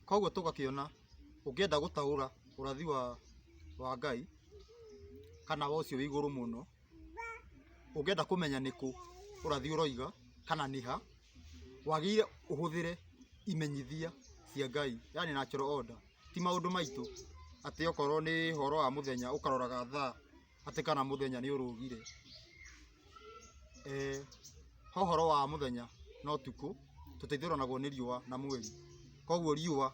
Koguo tũgakĩona ũngĩenda gũtaũra ũrathi wa wa Ngai kana wa ũcio wĩ igũrũ mũno, ũngĩenda kũmenya nĩ kũ ũrathi ũroiga kana nĩ ha, wagĩrĩire ũhũthĩre imenyithia cia Ngai yaani natural order ti maũndũ maitũ atĩ okorwo nĩ ũhoro wa mũthenya ũkaroraga thaa. atĩ kana mũthenya nĩ ũrũgire. He ũhoro wa mũthenya na ũtukũ, tũteithũranagwo nĩ riũa na mweri. Koguo riũa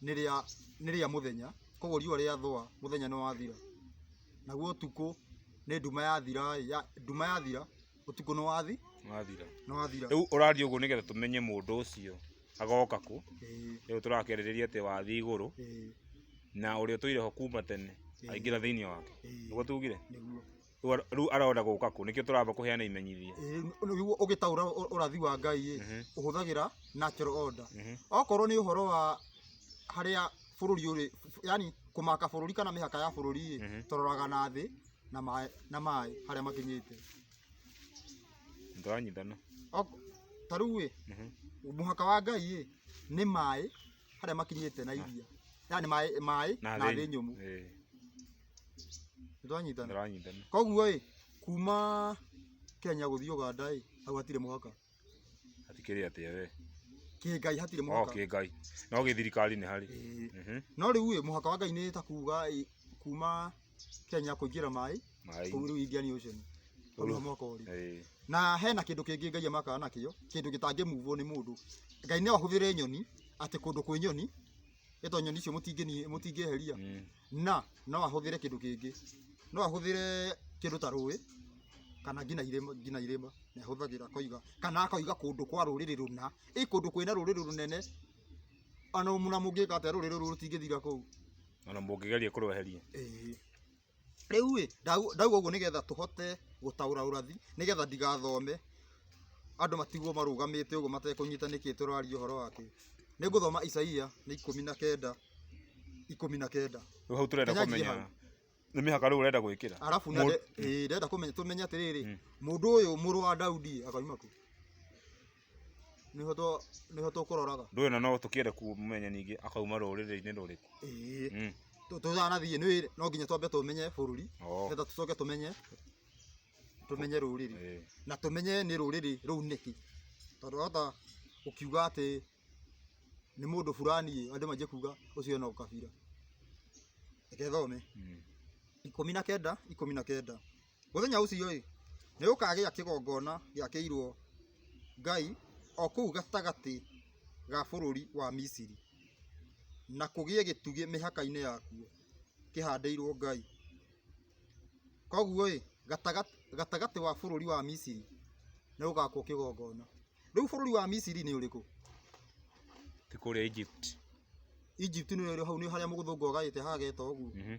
nĩ rĩa nĩ rĩa mũthenya, koguo riũa rĩathũa mũthenya nĩ wathira. Naguo ũtukũ nĩ nduma yathira ĩ, nduma yathira ũtukũ nĩ wathi nĩ wathira. Rĩu ũraria ũguo nĩgetha tũmenye mũndũ ũcio. gagoka kũ, ĩĩ, rĩu tũrakĩarĩrĩria atĩ wathiĩ igũrũ ĩĩ, na ũrĩa ũtũire ho kuma tene Ĩĩ. aingĩra thĩinĩ wake ĩĩ, nĩguo tugire nĩguo. Rĩu ara- rĩu arenda gũka kũ nĩkĩo tũramba kũheana imenyithia Ĩĩ, nĩguo ũgĩtaũra ũ- ũrathi wa ngai ĩ Mhm. ũhũthagĩra natural order Mhm. okorwo nĩ ũhoro wa harĩa bũrũri ũrĩ yani kũmaka bũrũri kana mĩhaka ya bũrũri ĩ Mhm. tũroraga na thĩ na maĩ na maĩ harĩa makinyĩte Ndĩranyitana. Ok- ta rĩu ĩ Mhm. mũhaka wa ngai ĩ nĩ maĩ harĩa makinyĩte na iria yani maĩ maĩ na thĩ nyũmũ Eh, nĩtwanyitana Ndĩranyitana. koguo ĩ kuma kenya gũthiĩ ũganda ĩ hau hatirĩ mũhaka Hatikĩrĩ atĩa we? Kĩngai hatirĩ Oh, mũhaka. kĩngai. No gĩthirikari nĩ harĩ. Ĩĩ. Mhm. No rĩu ĩ, mũhaka wa Ngai nĩ ta kuuga ĩ, kuuma Kenya kũingĩra maĩ Maĩ. kũu rĩu Indian Ocean. Hau nĩho mũhaka ũrĩ. Ĩĩ. Na hena kĩndũ kĩngĩ Ngai amakaga nakĩo, kĩndũ gĩtangĩmuvwo nĩ mũndũ. Ngai no ahũthĩre nyoni, atĩ kũndũ kwĩ nyoni, ĩto nyoni icio mũtingĩni- mũtingĩeheria Mm. na no ahũthĩre kĩndũ kĩngĩ no ahũthĩre kĩndũ ta rũĩ kana ngina irĩma ngina irĩma nĩ ahũthagĩra koiga kana akoiga kũndũ kwa rũrĩrĩ rũna ĩ kũndũ kwĩna rũrĩrĩ rũnene ona mũna mũngĩka atĩa rũrĩrĩ rũrũ rũtingĩthira kũu Ona mũngĩgeria kũrweheria. ĩĩ Rĩu ĩ, ndauga ũguo nĩgetha tũhote gũtaũra ũrathi, nĩgetha ndigathome andũ matigwo marũgamĩte ũguo matekũnyita nĩkĩ tũraria ũhoro wa kĩ. Nĩ ngũthoma Isaia nĩ ikũmi na kenda, ikũmi na kenda. Rĩu hau tũrenda Nyanjie kũmenya hau. nĩ mĩhaka rĩu ũrenda gwĩkĩra. Arabu na Mũ- nde- ĩĩ, ndĩrenda kũmenya tũmenye atĩrĩrĩ, mũndũ ũyũ mũrũ wa Daudi ĩ, akauma kũ? nĩho tũ- nĩho tũkũroraga ndũĩ na no tũkĩende kũmenya ningĩ akauma rũrĩrĩ-inĩ rũrĩkũ Ĩĩ. Mm. Tũ- tũtanathiĩ nĩ no nginya twambe tũmenye bũrũri Oo. nĩgetha tũcoke tũmenye tũmenye rũrĩrĩ Ĩĩ. na tũmenye nĩ rũrĩrĩ rũu nĩkĩ tondũ wahota gũkiuga atĩ nĩ mũndũ fulani ĩ, andũ manjie kuga ũcio no kabira reke thome Mm. ikũmi na kenda ikũmi na kenda Mũthenya ũcio-ĩ, nĩgũkagĩa kĩgongona gĩakĩirwo Ngai o kũu gatagatĩ ga bũrũri wa Misiri, na kũgĩe gĩtugĩ mĩhaka-inĩ yakuo kĩhandĩirwo Ngai. Koguo-ĩ, gatagatĩ wa bũrũri wa Misiri nĩgũgakwo kĩgongona. Rĩu bũrũri wa Misiri nĩ ũrĩkũ? Ti kũrĩa Egypt. Egypt nĩ ũrĩ hau nĩ harĩa mũgũthũngũ agaĩte hageta ũguo. Mhm.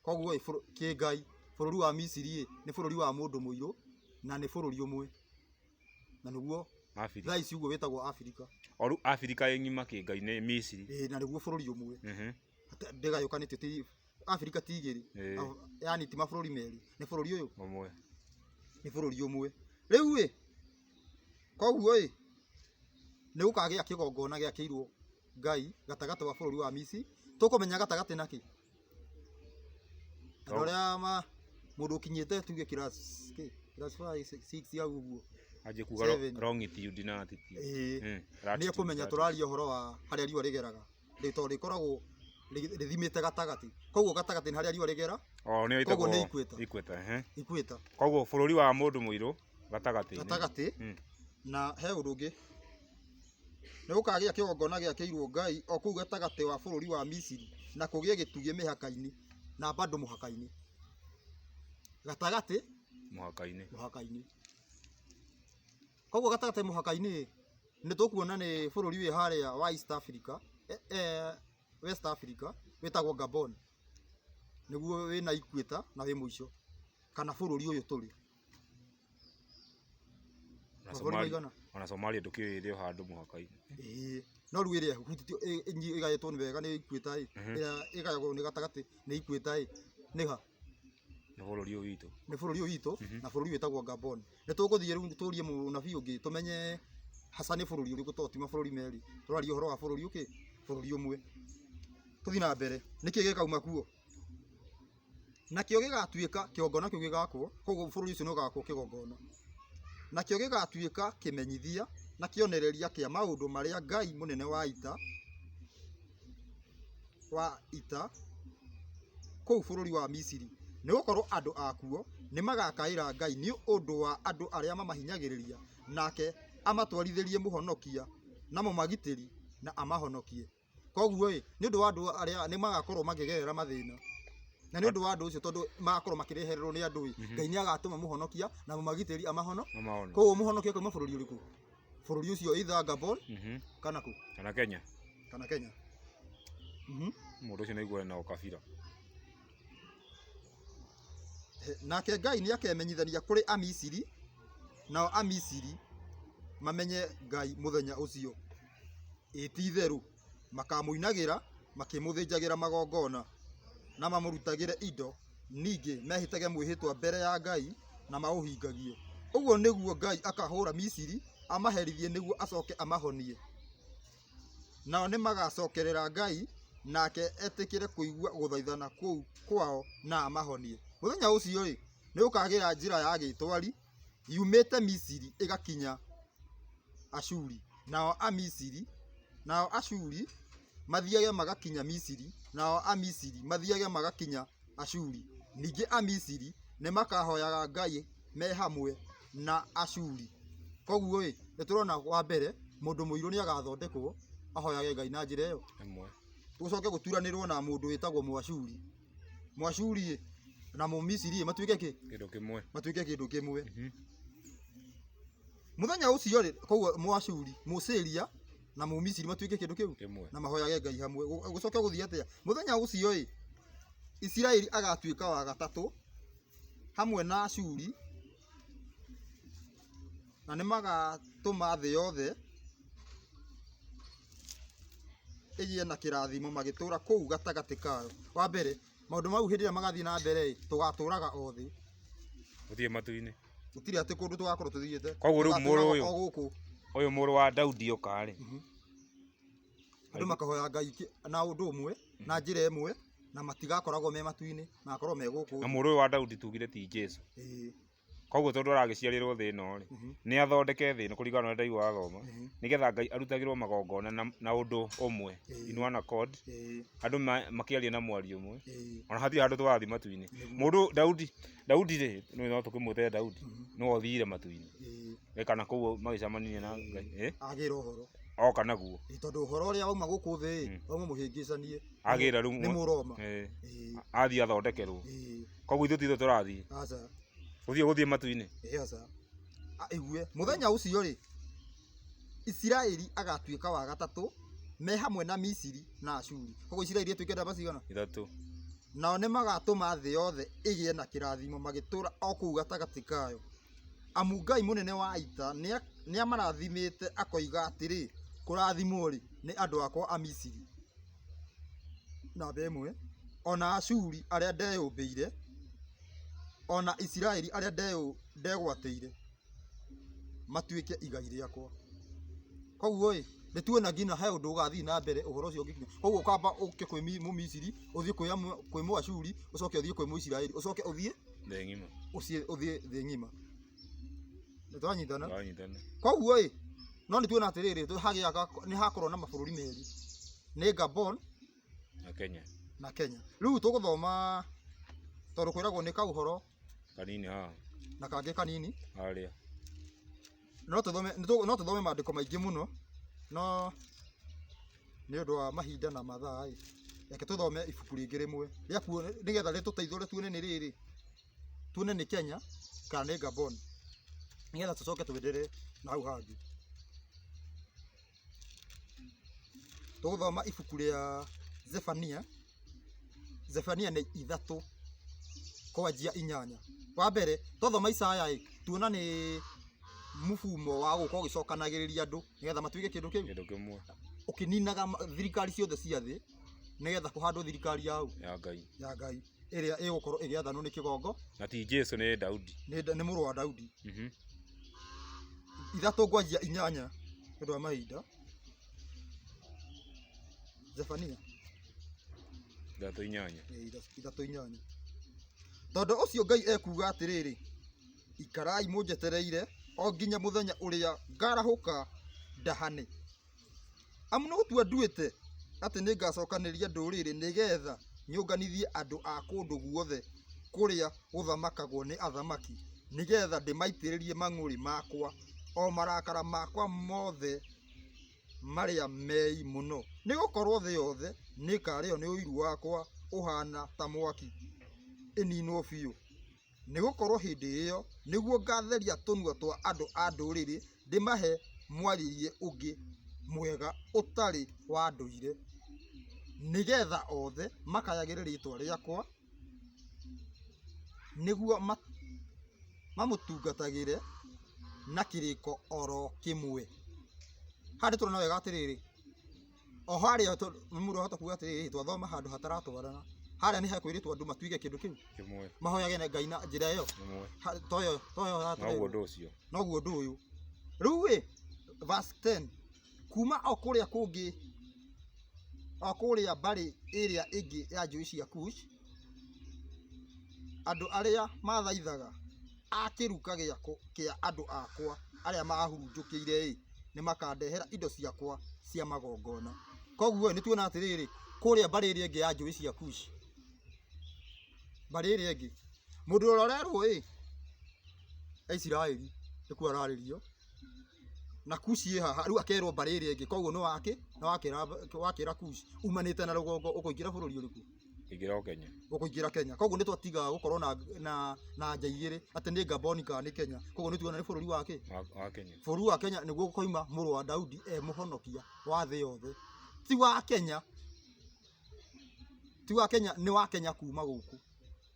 Koguo ĩ, bũrũ- kĩngai bũrũri wa Misiri ĩ, nĩ bũrũri wa mũndũ mũirũ na nĩ bũrũri ũmwe. Na nĩguo Abirika. thaa ici ũguo wĩtagwo Abirika. O rĩu Abirika ĩ ng'ima kĩngai nĩ Misiri. Ĩ, na nĩguo bũrũri ũmwe. Mhm. Ata- Ndĩgayũkanĩtio ti Abirika ti igĩrĩ. Ĩ. Au- Yaani ti mabũrũri merĩ. Nĩ bũrũri ũyũ, Ũmwe. nĩ bũrũri ũmwe. Rĩu ĩ, Koguo ĩ, nĩ gũkagĩa kĩgongona gĩakĩirwo Ngai gatagatĩ wa bũrũri wa Misiri, tũkũmenya gatagatĩ na kĩ? Andũ arĩa ma, mũndũ ũkinyĩte tuge class kĩ? Class five, six hau ũguo. Anjie kuga Seven. wrongitude na attitude. Ĩĩ. Mm, Nĩ latitude, ekũmenya latitude. tũraria ũhoro wa harĩa riũa rĩgeraga. rĩtoo rĩkoragwo rĩ- rĩthimĩte gatagatĩ koguo gatagatĩ nĩ harĩa riũa rĩgera o nĩyo Koguo nĩ ĩtagwo equator. equator ehe ikwĩta koguo bũrũri wa mũndũ mũirũ gatagatĩ gatagatĩ Mm. na he ũndũ ũngĩ nĩ gũkagĩa kĩgongona gĩakĩirwo ngai o kũu gatagatĩ wa bũrũri wa misiri na kũgĩe gĩtugĩ mĩhaka-inĩ na bandũ mũhaka-inĩ gatagatĩ mũhaka-inĩ mũhaka-inĩ Koguo gatagatĩ mũhaka-inĩ ĩ, nĩ tũkuona nĩ bũrũri wĩ harĩa wa East Africa, eh, eh, West Africa wĩtagwo Gabon. Nĩguo wĩna equator na wĩ mũico kana bũrũri ũyũ tũrĩ. Ona Mabũrũri Somalia- maigana? Ona Somalia ndũkĩũĩ ĩrĩ o handũ mũhaka-inĩ. Ĩĩ. No rĩu ĩrĩa ĩhutĩtio ĩ- ĩnyi- ĩgaĩtwo nĩ wega nĩ equator ĩ, Mhm. ĩrĩa ĩgayagwo nĩ gatagatĩ nĩ equator ĩ, nĩ ha? nĩ bũrũri ũyũ witũ nĩ bũrũri ũyũ witũ na bũrũri ũyũ wĩtagwo Gabon. Nĩ tũgũthiĩ rĩu tũrie mũnabii ũngĩ tũmenye haca nĩ bũrũri ũrĩkũ tondũ ti mabũrũri merĩ. Tũraria ũhoro wa bũrũri ũkĩ, bũrũri ũmwe. Tũthiĩ na mbere, nĩkĩ gĩkauma kuo? Nakĩo gĩgatuĩka kĩgongona kĩu gĩgakwo, koguo bũrũri ũcio nĩ ũgakwo kĩgongona. Nakĩo gĩgatuĩka kĩmenyithia na kĩonereria kĩa maũndũ marĩa Ngai mũnene wa ita... wa ita kũu bũrũri wa Misiri, nĩ gũkorũo andũ akuo nĩ magaakaĩra Ngai nĩ ũndũ wa andũ arĩa mamahinyagĩrĩria, nake amatwarithĩrie mũhonokia na mũmagitĩri na amahonokie. Kwoguo-ĩ, nĩ ũndũ wa andũ arĩa nĩ magakorũo makĩgerera mathĩna, na nĩ ũndũ wa andũ ũcio tondũ magakorũo makĩrehererũo nĩ andũ-ĩ, Ngai nĩ agatũma mũhonokia na mũmagitĩri amahonokie. Kwoguo mũhonokia akauma bũrũri ũrĩkũ? bũrũri ũcio either Gabon Mhm. kana kũ kana kenya kana Kenya Mhm. mũndũ ũcio naiguaga na ũkabira He- nake Ngai nĩ akemenyithania kũrĩ Amisiri nao Amisiri mamenye Ngai mũthenya ũcio ĩti itherũ makamũinagĩra makĩmũthĩnjagĩra magongona, na mamũrutagĩre indo, ningĩ mehĩtage mwĩhĩtwa mbere ya Ngai na maũhingagie. Ũguo nĩguo Ngai akahũũra Misiri, amaherithie nĩguo acoke amahonie. Nao nĩmagacokerera Ngai, nake etĩkĩre kũigua gũthaithana kũu kwao na amahonie. Mũthenya ũcio-rĩ, nĩgũkagĩa njĩra ya gĩtwari, yumĩte Misiri ĩgakinya Ashuri, nao Amisiri, nao Ashuri mathiage magakinya Misiri, nao Amisiri mathiage magakinya Ashuri. Ningĩ Amisiri nĩmakahoyaga Ngai me hamwe na Ashuri. Koguo-ĩ, nĩtũrona wa mbere, mũndũ mũirũ nĩagathondekwo ahoyage Ngai na njĩra ĩyo. Gũcoke gũturanĩrwo na mũndũ wĩtagwo Mũashuri. Mwashuri na Mũmisiri matuĩke kĩ? Kĩndũ kĩmwe. Matuĩke kĩndũ kĩmwe. Mhm. Mũthenya ũcio rĩ, koguo Mwashuri, Mũsiria na Mũmisiri matuĩke kĩndũ kĩu Kĩmwe. na mahoyage Ngai hamwe. Gũ- Gũcoke gũthiĩ atĩa? Mũthenya ũcio ĩ, Isiraeli agatuĩka wa gatatũ hamwe na Ashuri na nĩ magatũma thĩ yothe ĩgĩe na kĩrathimo magĩtũra kũu gatagatĩ kao. Wa mbere, maũndũ mau hĩndĩ ĩrĩa magathiĩ na mbere ĩ, tũgatũraga o thĩ. Gũtirĩ matu-inĩ. Gũtirĩ atĩ kũndũ tũgakorwo tũthiĩte. Koguo rĩu mũrũ ũyũ- O gũkũ. Ũyũ mũrũ wa Daudi oka rĩ, Andũ makahoya Ngai kĩ- na ũndũ ũmwe, na njĩra ĩmwe, na matigakoragwo me matu-inĩ, magakorwo me gũkũ. na mũrũ ũyũ wa Daudi tugire ti Jesu. Ĩĩ. Koguo tondũ aragĩciarĩrwo thĩ ĩno rĩ, nĩ athondeke thĩ ĩno kũringana na ũrĩa ndaigua wathoma, nĩgetha Ngai arutagĩrwo magongona na, na ũndũ ũmwe, in one accord, andũ ma, makĩaria na mwario ũmwe, ona hatirĩ handũ tũrathiĩ matu-inĩ. Mũndũ Daudi, Daudi rĩ, nĩ no tũkĩmwĩte Daudi, nĩwe ũthiire matu-inĩ, ĩ kana kũu magĩcemanirie na Ngai, ĩ, agĩra ũhoro oka naguo, Ĩ, tondũ ũhoro ũrĩa wauma gũkũ thĩ ĩ wauma mũhĩngĩcanie agĩra rĩu, nĩ mũroma ĩ, Ĩ, athiĩ athondekerwo. ĩ, Koguo ithuĩ titũ tũrathiĩ. Aca. Gũthiĩ gũthiĩ matu-inĩ. Ĩĩ aca. Aigue. Mũthenya ũcio rĩ, Isiraeli agatuĩka wa gatatũ me hamwe na Misiri na Ashuri. Koguo Isiraeli ĩtuĩke ndamba cigana? Ithatũ. Nao nĩ magatũma thĩ yothe ĩgĩe na kĩrathimo magĩtũra o kũu gatagatĩ kayo. Amu Ngai mũnene wa ita nĩ amarathimĩte akoiga atĩrĩ, kũrathimwo rĩ, nĩ andũ akwa a Misiri. namba ĩmwe, o na Ashuri arĩa ndeyũmbĩire, o na Isiraeli arĩa ndegwatĩire matuĩke igai rĩakwa. Kũguo-ĩ, nĩtuĩ na nginya he ũndũ ũgathiĩ na mbere ũhoro ũcio ũngĩkinya. Kũguo ũkamba ũke kwĩ Mũmisiri, ũthiĩ kwĩ Mũashuri, ũcoke ũthiĩ kwĩ Mũisiraeli, ũcoke ũthiĩ thĩ ng'ima. Nĩ twanyitana. twanyitana Koguo ĩ, no nĩ tuona atĩrĩrĩ, tũ- hagĩa ga- nĩ hakorwo na mabũrũri merĩ. Nĩ Gabon na Kenya na Kenya. Rĩu tũgũthoma tondũ kwĩragwo nĩ kaũhoro kanini haha na kangĩ kanini. harĩa No tũthome nĩ tũ- no tũthome maandĩko maingĩ mũno no nĩ ũndũ wa mahinda na mathaa ĩ, reke tũthome ibuku rĩngĩ rĩmwe rĩa kuo nĩgetha rĩtũteithũre tuone nĩ rĩrĩ tuone nĩ Kenya kana nĩ Gabon nĩgetha tũcoke twenderee na hau hangĩ. Tũgũthoma ibuku rĩa Zefania, Zefania nĩ ithatũ kwanjia inyanya. Wa mbere twathoma Isaya-ĩ tuona nĩ mũbumo wa gũka ũgĩcokanagĩrĩria andũ nĩgetha matuĩke kĩndũ kĩu kĩndũ kĩmwe ũkĩninaga ma- thirikari ciothe cia thĩ nĩgetha kũhandwo thirikari ya ũ? ya Ngai ya Ngai. ĩrĩa ĩgũkorwo ĩgĩathanwo nĩ kĩgongo na ti Jesu nĩ Daudi nĩ, Da- nĩ mũrũ wa Daudi Mhm. ithatũ ngwanjia inyanya nĩ ũndũ wa mahinda Zefania ndatũ inyanya eh, itha- ithatũ inyanya tondũ ũcio Ngai ekuga atĩrĩrĩ ikarai mũnjetereire o nginya mũthenya ũrĩa ngarahũka ndahane Amu nĩgũtua nduĩte atĩ nĩngacokanĩrĩria ndũrĩrĩ nĩgeetha nyũnganithie andũ a kũndũ guothe kũrĩa gũthamakagwo nĩ athamaki, nĩgeetha ndĩmaitĩrĩrie mang'ũrĩ makwa, o marakara makwa moothe marĩa meei mũno. Nĩgũkorwo thĩ yothe nĩĩkarĩĩo nĩ ũiru wakwa ũhaana ta mwaki, ĩniinwo biũ. Nĩgũkorwo hĩndĩ ĩyo nĩguo ngaatheria tũnua twa andũ a ndũrĩrĩ, ndĩmahe mwarĩrie ũngĩ mwega ũtarĩ wa ndũire, nĩ getha othe makayagĩre rĩĩtwa rĩakwa, nĩguo mamũtungatagĩre na kĩrĩko o ro kĩmwe. Haha nĩ tũrona wega atĩrĩrĩ... Oho harĩa tondũ nĩ ũrahota kuuga atĩrĩrĩ twathoma handũ hataratwarana. Harĩa nĩ hekwĩrĩtwo andũ matuige kĩndũ kĩu, Kĩmwe, mahoyage na Ngai na njĩra ĩyo. kĩmwe. Ha- Toyo, toyo Noguo hatũrĩ. ũndũ ũcio. Noguo ũndũ ũyũ. Rĩu rĩ, verse 10. Kuma o kũrĩa kũngĩ, o kũrĩa mbarĩ ĩrĩa ĩngĩ ya njũĩ cia Kush, andũ arĩa mathaithaga a kĩruka gĩakwa kĩa andũ akwa arĩa mahurunjũkĩire-ĩ, nĩmakandehera indo ciakwa cia magongona. Koguo-ĩ, nĩtuona atĩrĩrĩ, kũrĩa mbarĩ ĩrĩa ĩngĩ ya njũĩ cia Kushi, mbarĩ ĩrĩa ĩngĩ, mũndũ ũrĩa ũrerwo-ĩ, e Isiraeli, nĩkuo ararĩrio, na Kushi ĩ haha, rĩu akerwo mbarĩ ĩrĩa ĩngĩ, koguo nĩwakĩ? Nĩwakĩra nĩwakĩra Kushi, umanĩte na rũgongo ũkũingĩra bũrũri ũrĩkũ? Ingĩra o Kenya. ũkũingĩra Kenya koguo nĩ twatiga gũkorwo na na na nja igĩrĩ atĩ nĩ Gaboni kana nĩ Kenya koguo nĩ tuona nĩ bũrũri wa kĩ Wa- Wa Kenya. bũrũri wa Kenya nĩguo gũkoima mũrũ wa Daudi e mũhonokia wa thĩ yothe ti wa Kenya ti wa Kenya nĩ wa Kenya kuma gũkũ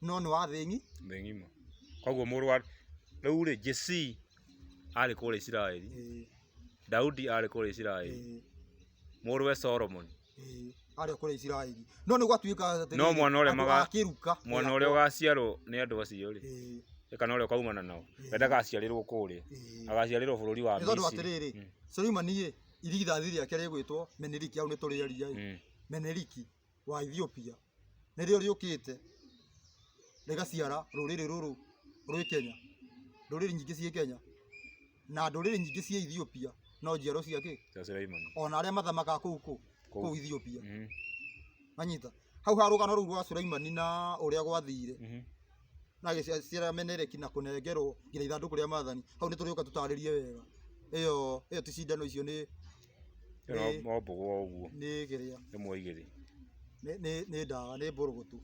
no nĩ wa thĩ ng'i Thĩ ng'ima. Koguo mũrũ wa rĩu rĩ Jesse arĩ kũrĩa Isiraeli. Ĩĩ, Daudi arĩ kũrĩa Isiraeli. ĩĩ. Mũrũwe Solomon Ĩĩ, arĩa kũrĩa Isiraeli no nĩ gwatuĩka atĩ No mwana ũrĩa andũ maga- akĩruka mwana ũrĩa ũgaciarwo nĩ andũ acio rĩ Ĩĩ, kana ũrĩa ũkaumana nao we ndagaciarĩrwo kũrĩa ĩĩ. agaciarĩrwo bũrũri wa nĩ tondũ Misiri atĩrĩrĩ Mm. Suleimani ĩ irigithathi rĩake rĩgwĩtwo Meneriki hau nĩ tũrĩaria ĩ Mm. Meneriki wa Ethiopia nĩrĩo rĩũkĩte rĩgaciara rũrĩrĩ rũrũ rwĩ Kenya, ndũrĩrĩ nyingĩ ciĩ Kenya na ndũrĩrĩ nyingĩ ciĩ Ethiopia no njiarwa cia kĩ? Ona arĩa mathamakaga kũu kũ? Kũu Ethiopia. Mm-hmm. Wanyita? Hau ha rũgano rũu rwa Sulaimani na ũrĩa gwathire mm-hmm. na agĩciara Menereki na kũnengerwo nginya ithandũkũ rĩa maathani, hau nĩ tũrĩũka tũtarĩrie wega ĩyo ĩyo ti cindano icio nĩ Ĩyo no Nĩ- no mbogo o ũguo, nĩ kĩrĩa ĩmwe igĩrĩ nĩ- nĩ nĩ ndawa nĩ mbũrũgũtũ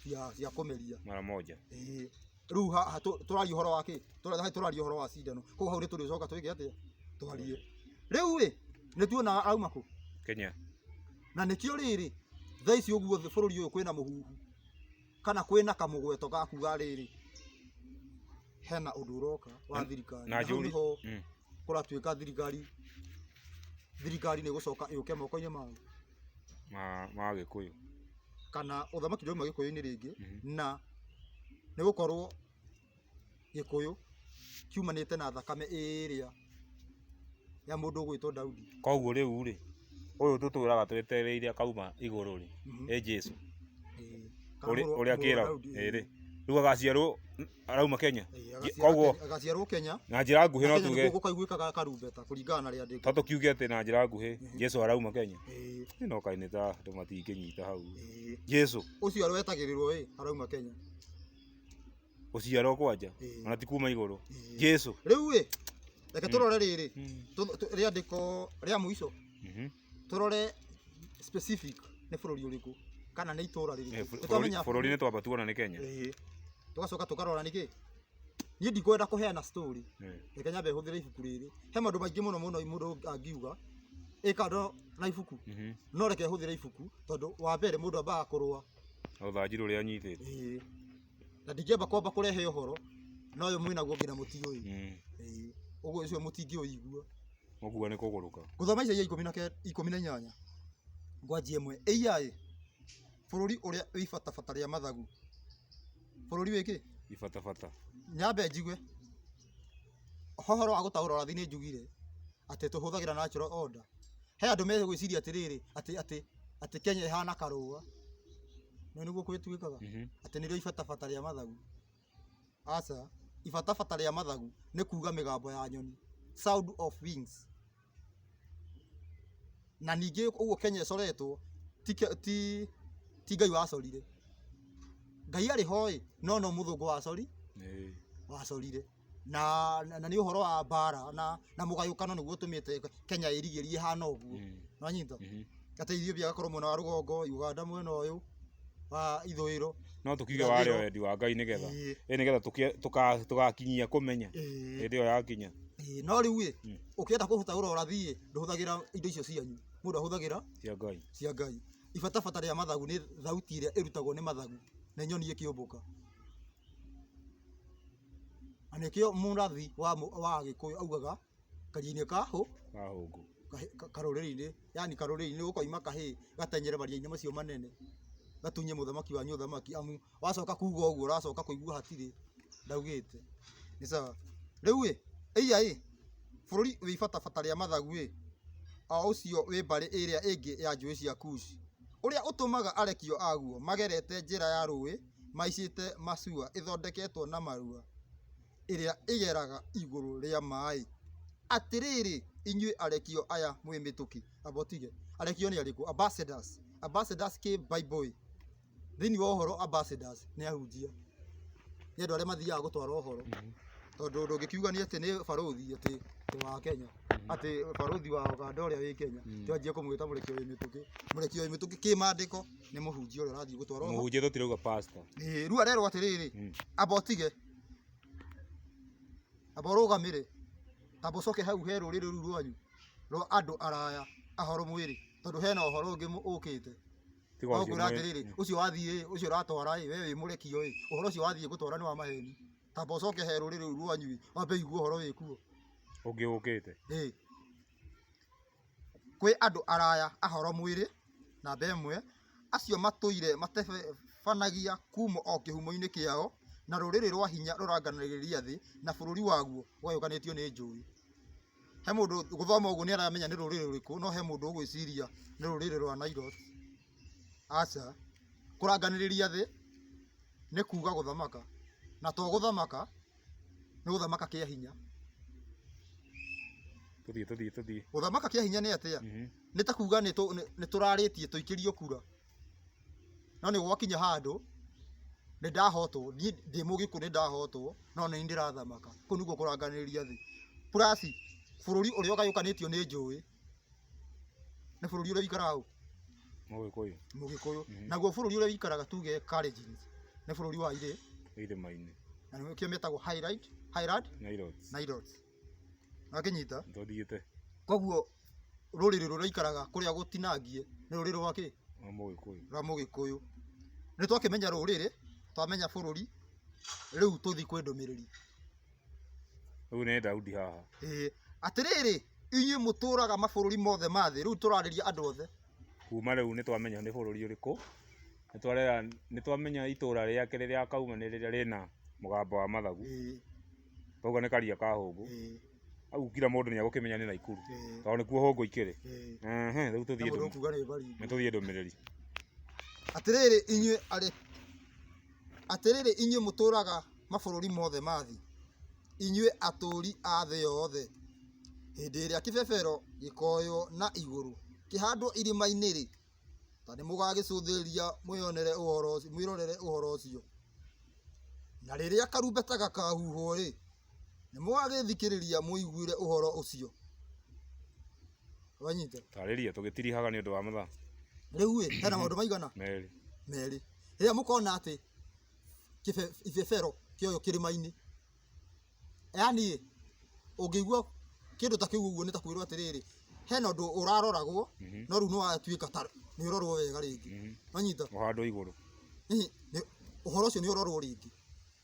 cia cia kũmeria mara moja. Ĩĩ. rĩu haha tũ- tũraria ũhoro wa kĩ Tũra- haha tũraria ũhoro wa cindano koguo hau nĩ tũrĩcoka twĩke atĩa twarie rĩu ĩ nĩ tuona auma kũ Kenya. na nĩkĩo rĩrĩ thaa ici ũguo thĩ- bũrũri ũyũ kwĩna mũhuhu kana kwĩna kamũgweto ga kuga rĩrĩ hena ũndũ ũroka wa Na- thirikari na na hau njũri- nĩho Mm. kũratuĩka thirikari thirikari nĩ gũcoka ĩũke moko-inĩ mao ma ma gĩkũyũ kana ũthamaki ndũma gĩkũyũ-inĩ rĩngĩ Mhm. na nĩ gũkorwo gĩkũyũ kiumanĩte na thakame ĩrĩa ya mũndũ ũgwĩtwo Daudi. Koguo rĩu rĩ, ũyũ tũtũraga twetereire akauma igũrũ rĩ, nĩ Jesu ũrĩa kĩragwo rĩ, rĩu agaciarwo arauma Kenya. Koguo agaciarwo Kenya na njĩra nguhĩ no tuge gũkaiguĩkaga karumbeta kũringana na rĩandĩko. To tũkiuge atĩ na njĩra nguhĩ Jesu arauma Kenya. Ĩno kaĩ nĩ ta andũ matingĩnyita hau. Jesu ũcio wetagĩrĩrwo ĩ arauma Kenya. Gũciarwo kwanja Ĩĩ. ona ti kuma igũrũ. Ĩĩ. Jesu. Rĩu ĩ, reke tũrore rĩrĩ, tũ- tũ- rĩandĩko rĩa mũico, Mhm. tũrore specific nĩ bũrũri ũrĩkũ, kana nĩ itũũra Eh, rĩrĩkũ. bũ- Nĩ bũrũri- twamenya- Bũrũri-inĩ twamba tuona nĩ Kenya. Ĩĩ. Tũgacoka tũkarora nĩkĩ. Niĩ ndikwenda kũheana story, Eh. reke nyambe hũthĩre ibuku rĩrĩ. He maũndũ maingĩ mũno mũno mũndũ angiuga, ĩ kando na ibuku. Mhm. No reke hũthĩre ibuku, tondũ wa mbere mũndũ ambaga kũrũa Rũthanju rũrĩa anyitĩte. Ĩĩ. Na ndingĩamba kwamba kũrehe ũhoro na ũyũ mwĩnaguo nginya mũtiũĩ. Mm. Ĩĩ. Ũguo ũcio mũtingĩũigua. Mũkua nĩ kũgũrũka. Ngũthoma Isaia ikũmi na ke- ikũmi na inyanya ngwanjia ĩmwe. Ĩiya-ĩ, bũrũri ũrĩa wĩ ibatabata rĩa mathagu. Bũrũri wĩ kĩ? Ibatabata. Nyambe njigue. He ũhoro wa gũtaũra ũrathi nĩ njugire atĩ tũhũthagĩra natural order. He andũ megwĩciria atĩrĩrĩ atĩ atĩ atĩ Kenya ĩhana karũa. Nĩũĩ nĩguo kwĩ twĩkaga? Atĩ nĩrĩo ibatabata rĩa mathagu. Aca, ibatabata rĩa mathagu nĩ kuga mĩgambo ya nyoni, sound of wings. Na ningĩ ũguo Kenya ĩcoretwo ti ke ti ti Ngai wacorire. Ngai arĩ ho ĩ, no no mũthũngũ wacori Ĩĩ. wacorire. Na na nĩ ũhoro wa mbara na na mũgayũkano nĩguo ũtũmĩte Kenya ĩrigĩrie ĩhana ũguo. Nĩwanyita? kata Ethiopia agakorwo mwena wa rũgongo, Uganda mwena ũyũ wa ithũĩro. No tũkiuge warĩ o wendi wa Ngai nĩgetha Ĩĩ, ĩ nĩgetha tũkĩ- tũka- tũgakinyia kũmenya ĩĩ, hĩndĩ ĩyo yakinya ĩĩ. No rĩu ĩ, Mm. ũkĩenda kũruta ũrĩa ũrathiĩ ĩ, ndũhũthagĩra indo icio cianyu. Mũndũ ahũthagĩra cia Ngai cia Ngai. Ibatabata rĩa mathagu nĩ thauti ĩrĩa ĩrutagwo nĩ mathagu na nyoni ĩkĩũmbũka. Na nĩkĩo mũrathi wa mũ- wa Agĩkũyũ augaga kanjini ka hũ Ka hũngũ. kahĩ- ka- karũrĩrĩ-inĩ yani karũrĩrĩ-inĩ ũkoima kahĩ gatenyere maria-inĩ macio manene gatunye mũthamaki wanyu ũthamaki amu wacoka kuga ũguo ũracoka kũigua hatirĩ ndaugĩte nĩ sawa rĩu ĩ ĩiya ĩ bũrũri wĩ ibatabata rĩa mathagu ĩ o ũcio wĩ mbarĩ ĩrĩa ĩngĩ ya njũĩ cia kuci ũrĩa ũtũmaga arekio aguo magerete njĩra ya rũĩ maicĩte macua ĩthondeketwo na marua ĩrĩa ĩgeraga igũrũ rĩa maaĩ. Atĩrĩrĩ, inyuĩ arekio aya mwĩ mĩtũkĩ, amba ũtige, arekio nĩ arĩkũ? Ambassadors, ambassadors kĩ Bible-ĩ, thĩiniĩ wa ũhoro ambassadors nĩ ahunjia, nĩ andũ arĩa mathiaga gũtwara ũhoro, tondũ ndũngĩkiuga nĩ atĩ nĩ barũthi atĩ wa Kenya, atĩ barũthi wa Ũganda ũrĩa wĩ Kenya, atĩ wanjie kũmwĩta mũrekio wĩ mĩtũkĩ, mũrekio wĩ mĩtũkĩ kĩmandĩko nĩ mũhunjia ũrĩa ũrathiĩ gũtwara ũhoro. Mũhunjia tũtirauga pastor. Ĩĩ, rĩu arerwo atĩrĩrĩ, amba ũtige. Amba ũrũgamĩre, amba ũcoke hau he rũrĩrĩ rũu rwanyu rwa andũ araya ahoro mwĩrĩ, tondũ hena ũhoro ũngĩ ũkĩte. Tiga ũcio Nongwĩra mwĩrĩ. atĩrĩrĩ, ũcio wathiĩ ĩ, ũcio ũratwara ĩ, we wĩ mũrekio ĩ, ũhoro ũcio wathiĩ gũtwara nĩ wa maheni. Tamba ũcoke he rũrĩrĩ rũu rwanyu ĩ, wambe ũigue ũhoro wĩkuo. Ũngĩ ũkĩte. Ĩ. kwĩ andũ araya ahoro mwĩrĩ, namba ĩmwe, acio matũire matebanagia kuuma o kĩhumo-inĩ kĩao, na rũrĩrĩ rwa hinya rũranganagĩria thĩ, na bũrũri waguo ũgayũkanĩtio nĩ njũĩ. He mũndũ gũthoma ũguo nĩ aramenya nĩ rũrĩrĩ rũrĩkũ, no he mũndũ ũgwĩciria nĩ rũrĩrĩ rwa Nilotes. Aca, kũranganĩrĩria thĩ nĩ kuuga gũthamaka, na to gũthamaka. nĩ gũthamaka kĩa hinya tuthiĩ tuthiĩ tuthiĩ gũthamaka kĩa hinya nĩ atĩa Mhm. nĩ ta kuga nĩ tũ- nĩ- nĩ tũrarĩtie tũikĩrio kura no nĩ gwakinya handũ nĩ ndahotwo niĩ ndĩ mũgĩkũ nĩ ndahotwo no nĩ ndĩrathamaka kũu nĩguo kũranganĩria thĩ purasi bũrũri ũrĩa ũgayũkanĩtio nĩ njũĩ Nĩ bũrũri ũrĩa ũikaraga ũũ? Mũgĩkũyũ. Mũgĩkũyũ. Naguo bũrũri ũrĩa ũikaraga tuge Kalenjin nĩ bũrũri wa irĩ? Irĩma-inĩ. Na nĩkĩo metagwo Highland, Highland? Nilotes. Nilotes. Nĩwakĩnyita? Nĩtũthiĩte. Koguo rũrĩrĩ rũrĩa rũikaraga kũrĩa gũtinangie nĩ rũrĩrĩ rwa kĩ? Rwa Mũgĩkũyũ. Rwa Mũgĩkũyũ. Nĩtwakĩmenya rũrĩrĩ, twamenya bũrũri, rĩu tũthiĩ kwĩ ndũmĩrĩri. Rĩu nĩ Daudi haha. Ĩĩ. Atĩrĩrĩ, inyuĩ mũtũũraga mabũrũri mothe ma thĩ, rĩu tũrarĩria andũ othe. Kuuma rĩu nĩ twamenya nĩ bũrũri ũrĩkũ, nĩ twamenya itũũra rĩake rĩrĩa akauma nĩ rĩrĩa rĩna mũgambo wa mathagu. Twauga nĩ karia ka hũngũ. Hau kira mũndũ nĩ egũkĩmenya nĩ Naikuru tondũ nĩkuo hũngũ ikĩrĩ. Rĩu tũthiĩ ndũmĩrĩri. Atĩrĩrĩ inyuĩ arĩ. Atĩrĩrĩ inyuĩ mũtũũraga mabũrũri mothe ma thĩ, inyuĩ atũũri a thĩ yothe, hĩndĩ ĩrĩa kĩbebero gĩkooywo na igũrũ kĩhandwo irĩma-inĩ-rĩ, ta nĩmũgagĩcũthĩrĩria mwĩrorere ũhoro ũcio, na rĩrĩa karumbeta gakaahuhwo-rĩ, nĩmũgagĩthikĩrĩria mũiguĩre ũhoro ũcio. Rĩu-ĩ, hena maũndũ maigana merĩ. rĩrĩa mũkona atĩ kĩbe- ibebero kĩoyo kĩrĩma-inĩ yani ũngĩigua kĩndũ ta kĩu ũguo nĩ ta kwĩrwo atĩrĩrĩ hena ũndũ ũraroragwo Mhm. no rĩu nĩwatuĩka ta nĩ ũrorwo wega rĩngĩ Mhm. wanyita ũhandwo igũrũ Hihi, nĩ- ũhoro ũcio nĩ ũrorwo rĩngĩ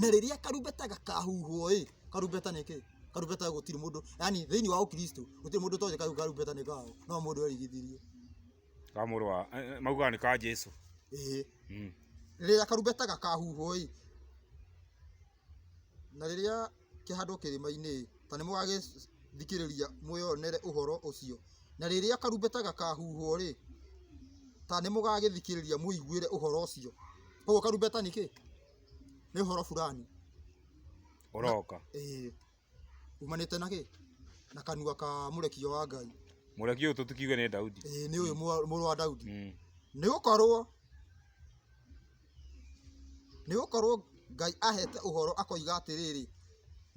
na rĩrĩa karumbeta gakahuhwo ĩ karumbeta nĩ kĩĩ karumbeta gũtirĩ mũndũ yani thĩinĩ wa ũkristo gũtirĩ mũndũ ũtoĩ kau karumbeta nĩ kaũ no mũndũ erigithirie ka mũrũ wa eh, eh, maugaga nĩ ka Jesu ĩĩ mm. rĩrĩa karumbeta gakahuhwo ĩ na rĩrĩa kĩhandwo kĩrĩma-inĩ-ĩ, ta nĩmũgagĩthikĩrĩria mwĩyonere ũhoro ũcio, na rĩrĩa karumbeta gakahuhwo-rĩ, ta nĩmũgagĩthikĩrĩria mũiguĩre ũhoro ũcio. Kuoguo karumbeta nĩ kĩĩ? Nĩ ũhoro burani. Ũroka. Ĩĩ. Umanĩte na kĩĩ? Na kanua ka mũrekio wa Ngai. Mũrekio ũyũ tũtikiuge nĩ Daudi. Ĩĩ nĩ ũyũ mũrũ wa Daudi. Nĩgũkorwo. Nĩgũkorwo Ngai aheete ũhoro akoiga atĩrĩrĩ,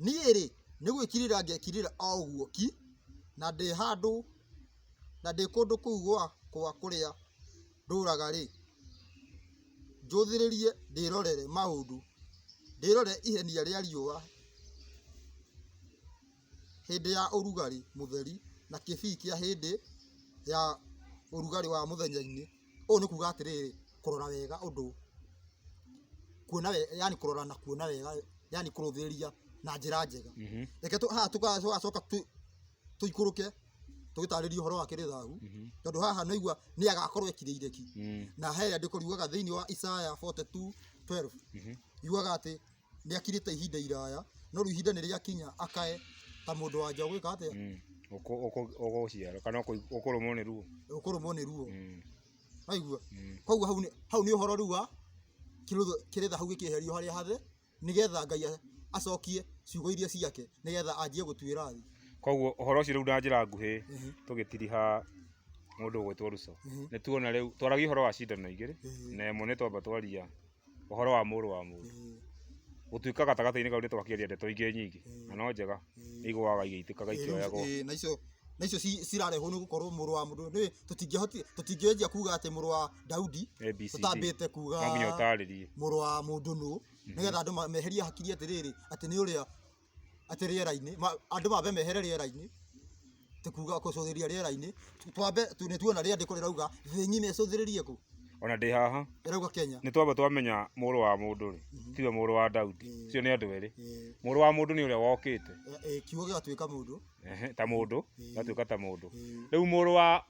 Niĩ-rĩ, nĩgwĩkirĩra ngekirĩra o ũguo ki, na ndĩ handũ, na ndĩ kũndũ kũu gwakwa kũrĩa ndũũraga-rĩ, njũthĩrĩrie ndĩrorere maũndũ, ndĩrorere ihenia rĩa riũa. hĩndĩ ya ũrugarĩ mũtheri na kĩbii kĩa hĩndĩ ya ũrugarĩ wa mũthenya-inĩ, ũũ nĩ kuga atĩrĩrĩ, kũrora wega ũndũ, kuona wega yaani kũrora na kuona wega yaani kũrũthĩrĩria na njĩra njega, reke tũ haha tũgacoka tũ tũikũrũke tũgĩtarĩrie ũhoro wa kĩrĩa thahu, tondũ haha nĩ ũraigua nĩ agakorwo ekirĩire ki, na he rĩandĩko riugaga thĩiniĩ wa Isaya forty two twelve yugaga atĩ nĩakirĩte ihinda iraya no rĩu ihinda nĩrĩakinya akae ta mũndũ wa nja ũgwĩka atĩa? Mm. Ũkũ- ũkũ- Ũgũciara kana ũkũ- ũkũrũmwo nĩ ruo. ũkũrũmwo nĩ ruo Mm. waigua Mm. koguo hau nĩ hau nĩ ũhoro rĩu wa kĩrũtho- kĩrĩtha hau gĩkĩeherio harĩa hathe nĩgetha ngai a- acokie ciugo iria ciake nĩgetha anjie gũtuĩra thĩ Koguo ũhoro ũcio rĩu na njĩra nguhĩ Ehe. tũgĩtiriha mũndũ ũgwĩtwo Ruso. Ehe. Nĩ tuona rĩu twaragia ũhoro wa cindano igĩrĩ Ehe. na ĩmwe nĩ twamba twaria ũhoro wa mũrũ wa mũndũ, gũtuĩka gatagatĩ-inĩ kau nĩ twakĩaria ndeto ingĩ nyingĩ na no njega, nĩ igũaga igĩitĩkaga ikĩoyagwo. Ĩĩ na icio na icio cirarehwo nĩ gũkorwo mũrũ wa mũndũ nĩ tũtingĩhotire tũtingĩanjia kuga atĩ mũrũ wa Daudi ABCD. tũtambĩte kuga No nginya ũtaarĩrie. mũrũ wa mũndũ nũ nĩgetha andũ ma- meherie hakiri atĩrĩrĩ atĩ nĩ ũrĩa atĩ rĩera-inĩ, andũ mambe mehere rĩera-inĩ, nĩ kuga gũcũthĩrĩria rĩera-inĩ, twambe nĩ tuona rĩandĩko rĩrauga thĩ ng'ima ĩcũthĩrĩrie kũ? Ona ndĩ haha, ĩrauga Kenya, nĩ twambe twamenya mũrũ wa mũndũ rĩ, tiwe mũrũ wa Daudi, acio nĩ andũ erĩ, mũrũ wa mũndũ nĩ ũrĩa wokĩte, kiugo gĩgatuĩka mũndũ, ta mũndũ, gĩgatuĩka ta mũndũ, rĩu mũrũ wa,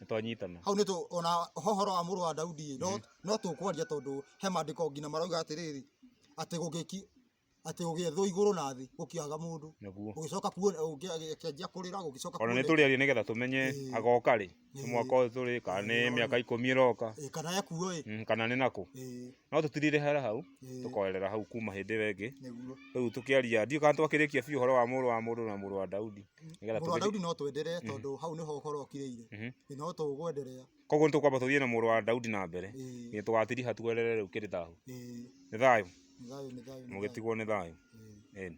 nĩ twanyitana hau nĩ tũ ona hohoro wa mũrũ wa Daudi no no tũkwaria tondũ he mandĩko nginya marauga atĩrĩrĩ atĩ gũgĩki atĩ gũgĩethwo igũrũ na thĩ gũkĩaga mũndũ nĩguo ũgĩcoka kuona ũkĩanjia kũrĩra ũgĩcoka ona nĩ tũrĩarie nĩ getha tũmenye Ĩĩ. agoka rĩ nĩ Ĩĩ. mwaka ũyũ tũrĩ kana Ĩĩ, nĩ nĩ mĩaka ikũmi ĩroka Ĩĩ, kana ekuo ĩ Mm, kana nĩ nakũ Ĩĩ, no tũtirire hara hau ĩĩ, tũkoerera hau kuma hĩndĩ ĩyo ĩngĩ nĩguo rĩu tũkĩaria ndiũ kana twakĩrĩkia biũ ũhoro wa mũrũ wa mũndũ na mũrũ wa Daudi Nĩgetha Mũrũ wa tũgĩthiĩ- Daudi no twenderee tondũ hau nĩho ũhoro ũkirĩire. Mhm. Ĩ, No tũgwenderea. koguo nĩtũkwamba tũthiĩ na mũrũ wa daudi na mbere Ĩ, nginya tũgatiriha twerere rĩu kĩrĩ thahu ĩ, nĩ thayũ nĩ thayũ, nĩ thayũ, nĩ thayũ. mũgĩtigwo nĩ thayũ Ĩ. Ĩni.